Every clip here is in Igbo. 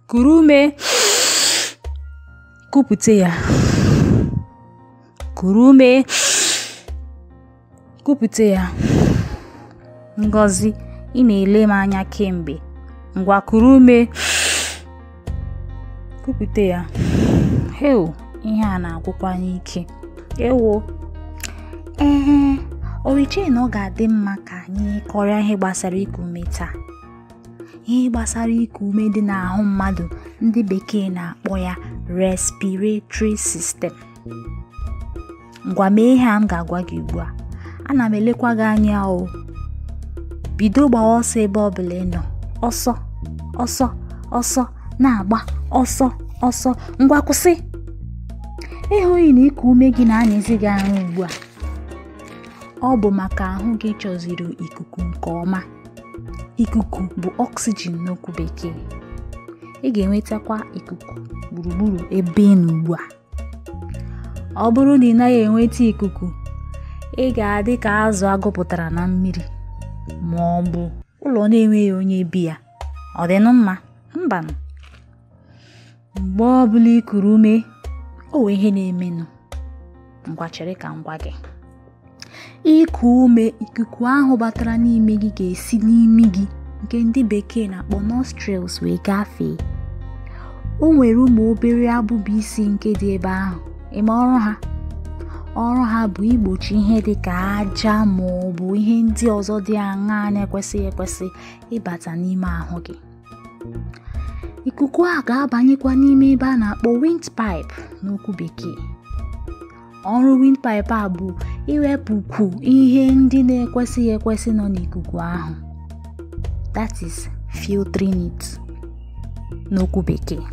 kuru ume kupute ya kuru ume kupute ya Ngozi ị na-ele m anya kemgbe ngwa kuru ume kupute ya heo ihe a na-agwụkwa anyị ike ewo ee oriche na ọ ga-adị mma ka anyị kọrịa ihe gbasara iku ume taa ihe gbasara iku ume dị n'ahụ mmadụ ndị bekee na-akpọ ya respiratory system ngwa mee ihe a m ga-agwa gị ugbu a ana m elekwa gị anya o bido gbawa ọsọ ebe ọ bụla ị nọ ọsọ ọsọ ọsọ na-agba ọsọ ọsọ ngwa kwụsị ị hụghị na iku ume gị na-anyịzi gị ahụ ugbu a ọ bụ maka ahụ gị chọziri ikuku nke ọma ikuku bụ oxygen n'okwu bekee ị ga-enwetakwa ikuku gburugburu ebe ị nọ ugbu a ọ bụrụ na ị naghị enweta ikuku ị ga-adị ka azụ a gụpụtara na mmiri ma ọ bụ ụlọ na-enweghị onye bi ya ọ dịnụ mma mbanụ mgbe ọ bụla i kuru ume o nwee ihe na-emenụ ngwa chere ka m gwa gị iku ume ikuku ahụ batara n'ime gị ga-esi n'imi gị nke ndị bekee na-akpọ nostrils wee gafee o nwere ụmụ obere abụba isi nke dị ebe ahụ ị ma ọrụ ha ọrụ ha bụ igbochi ihe dị ka aja ma ọ bụ ihe ndị ọzọ dị aṅaa na-ekwesịghị ekwesị ịbata n'ime ahụ gị ikuku a ga-abanyekwa n'ime ebe a na-akpọ windpipe n'okwu bekee ọrụ windpipe a bụ iwepụkwu ihe ndị na-ekwesịghị ekwesị nọ n'ikuku ahụ that is filtering it n'okwu bekee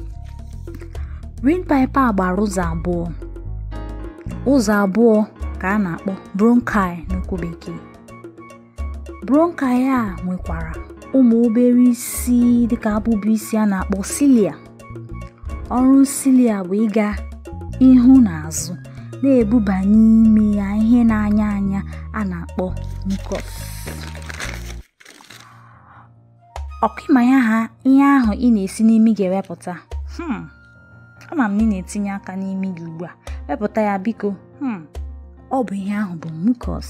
windpipe a gbara ụzọ abụọ ụzọ abụọ ka a na-akpọ bronchi n'okwu bekee bronchi a nwekwara ụmụ obere isi dịka abụba isi a na-akpọ cilia ọrụ cilia bụ ịga ihu na azụ na-ebuba n'ime ya ihe na-anya anya a na-akpọ mucus ọkwa ị ma ya ha ihe ahụ ị na-esi n'imi gị ewepụta hmm. ama m na ị na-etinye aka n'imi gị ugbu a wepụta ya biko hmm. ọ bụ ihe ahụ bụ mucus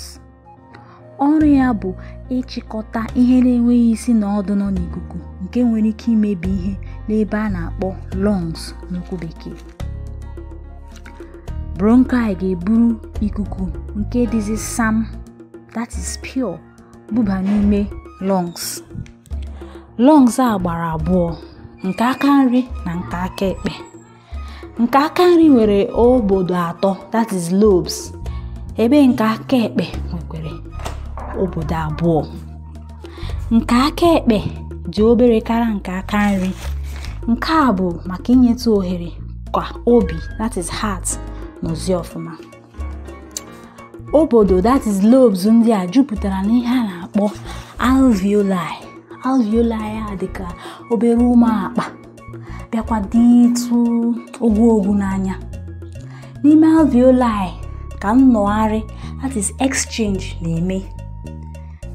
ọrụ ya bụ ịchịkọta ihe na-enweghị isi na ọdụ nọ n'ikuku nke nwere ike imebi ihe n'ebe a na-akpọ lungs n'okwu bekee bronchi ga-eburu ikuku nke dịzi sam that is pure buba n'ime lungs lungs a gbara abụọ nke aka nri na nke aka ekpe nke aka nri nwere obodo atọ that is lobes ebe nke aka ekpe nwekwara obodo abụọ nke aka ekpe dị obere karịa nke aka nri nke a bụ maka inyetụ ohere ka obi that is heart nọzie ọfụma obodo that is lobes ndị a jupụtara n'ihe a na-akpọ alveoli alveoli a dịka obere ụmụ akpa bịakwa dịtụ ogwuogwu n'anya n'ime alveoli ka nnọgharị that is exchange na-eme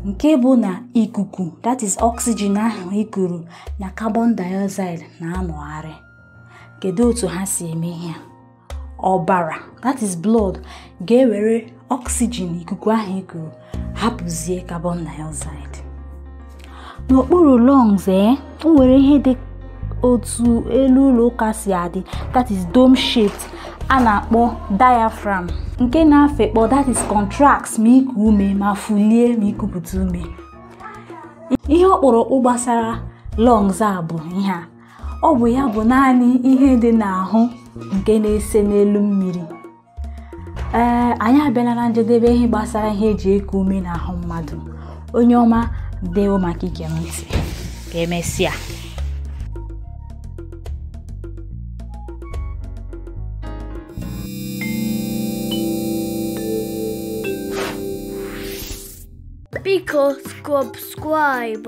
nke bụ na ikuku that is oxygen ahụ i kuru na carbon dioxide na-anọgharị kedu otu ha si eme ihe a ọbara that is blood ga-ewere oxygen ikuku ahụ i kuru hapụzie carbon dioxide n'okpuru lungs e nwere ihe dị otu elu ụlọ ụka si adị that is dome shaped a na-akpọ diaphragm nke na-afekpọ that is contracts ma iku ume ma fulie ma ikupụta ume ihe ọkpụrụkpụ gbasara lungs a bụ ihe a ọ bụ ya bụ naanị ihe dị n'ahụ nke na-ese n'elu mmiri anyị abịala na njedebe ihe gbasara ihe e ji eku ume n'ahụ mmadụ onye ọma dewo maka ige m ntị ka emesịa Biko subscribe.